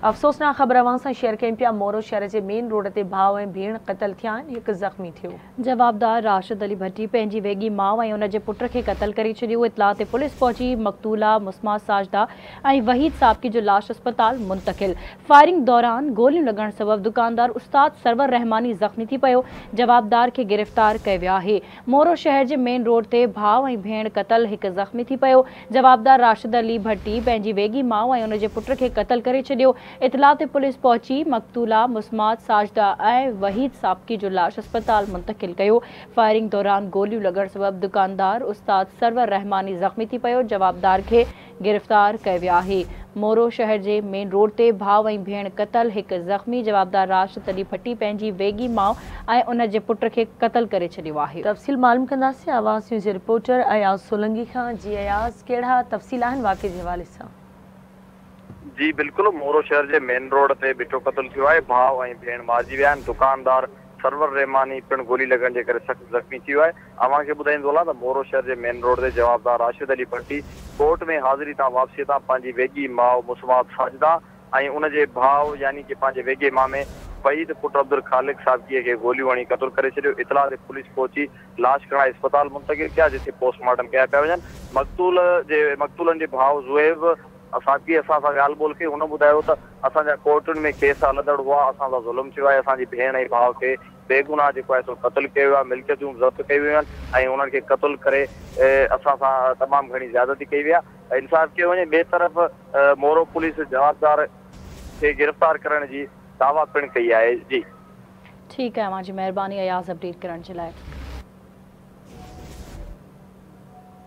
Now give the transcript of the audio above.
افسوسناڪ خبر اوهان سان شيئر ڪيون پيا مورو شهر جي مين روڊ تي ڀاء ۽ ڀيڻ قتل ٿيا آهن هڪ زخمي ٿيو. جوابدار راشد علي ڀٽي پنهنجي ويڳي ماء ۽ ان جي پٽ کي قتل ڪري ڇڏيو اطلاع تي پوليس پهچي مقتولا مسمع ساجده ۽ وحيد سابقي جو لاش اسپتال منتقل فائرنگ دوران گوليون لڳڻ سبب دڪاندار استاد سرور رحماني زخمي ٿي پيو جوابدار کي گرفتار ڪيو ويو آهي مورو شهر جي مين روڊ تي ڀاء ۽ ڀيڻ قتل، هڪ زخمي ٿي پيو، جوابدار راشد علي ڀٽي پنهنجي ويڳي ماء ۽ ان جي پٽ کي قتل ڪري ڇڏيو، اطلاع تي پوليس پهچي مقتولا مسمات ساجده ۽ وحيد سابقي جو لاش اسپتال منتقل ڪيو، فائرنگ دوران گوليون لڳڻ سبب دڪاندار استاد سرور رحماني زخمي ٿي پيو، جوابدار کي گرفتار ڪئي ويا آهي. مورو شهر جي مين روڊ تي ڀاء ۽ ڀيڻ قتل، هڪ زخمي جوابدار راشد تڏي ڀٽي پنهنجي ويڳي ماء ۽ ان جي پٽ کي قتل ڪري ڇڏيو آهي. تفصيل معلوم ڪنداسين آواز نيوز جي رپورٽر اياز سولنگي کان جي اياز ڪهڙا تفصيل آهن واقعي جي حوالي سان. جي بلڪل مورو شهر جي مين روڊ تي ڀٽو قتل ٿيو آهي ڀاء ۽ ڀيڻ مارجي ويا آهن دڪاندار سرور رحماني پڻ گولي لڳڻ جي ڪري سخت زخمي ٿي ويو آهي اوهان کي ٻڌائيندو هلان ته مورو شهر جي مين روڊ تي جوابدار راشد علي ڀٽي ڪورٽ ۾ حاضري تان واپسي تان پنهنجي ويڳي ماء مسمات ساجده ۽ ان جي ڀاء يعني ڪه پنهنجي ويڳي مامي فهيد پٽ عبدالخالق سابقي کي گوليون هڻي قتل ڪري ڇڏيو اطلاع تي پوليس پهچي لاش کڻائي اسپتال منتقل ڪيا جتي پوسٽ مارٽم ڪيا پيا وڃن مقتول جي مقتولن جي ڀاء زوهيب اساچيء اسان سان ڳالهه ٻولهه ڪئي، هن ٻڌايو ته اسان جا ڪورٽن ۾ ڪيس هلندڙ هئا، اسان سان ظلم ٿيو آهي، اسان جي ڀيڻ ۽ ڀاء کي بيگناهه جيڪو آهي سو قتل ڪيو ويو آهي، ملڪيتون ضبط ڪيون ويون آهن ۽ انهن کي قتل ڪري اسان سان تمام گهڻي زيادتي ڪئي وئي آهي، انصاف ڪيو وڃي، ٻئي طرف مورو پوليس جوابدار کي گرفتار ڪرڻ جي دعويٰ پڻ ڪئي آهي. جي. ٺيڪ آهي اوهان جي مهرباني اياز اپڊيٽ ڪرڻ جي لاء.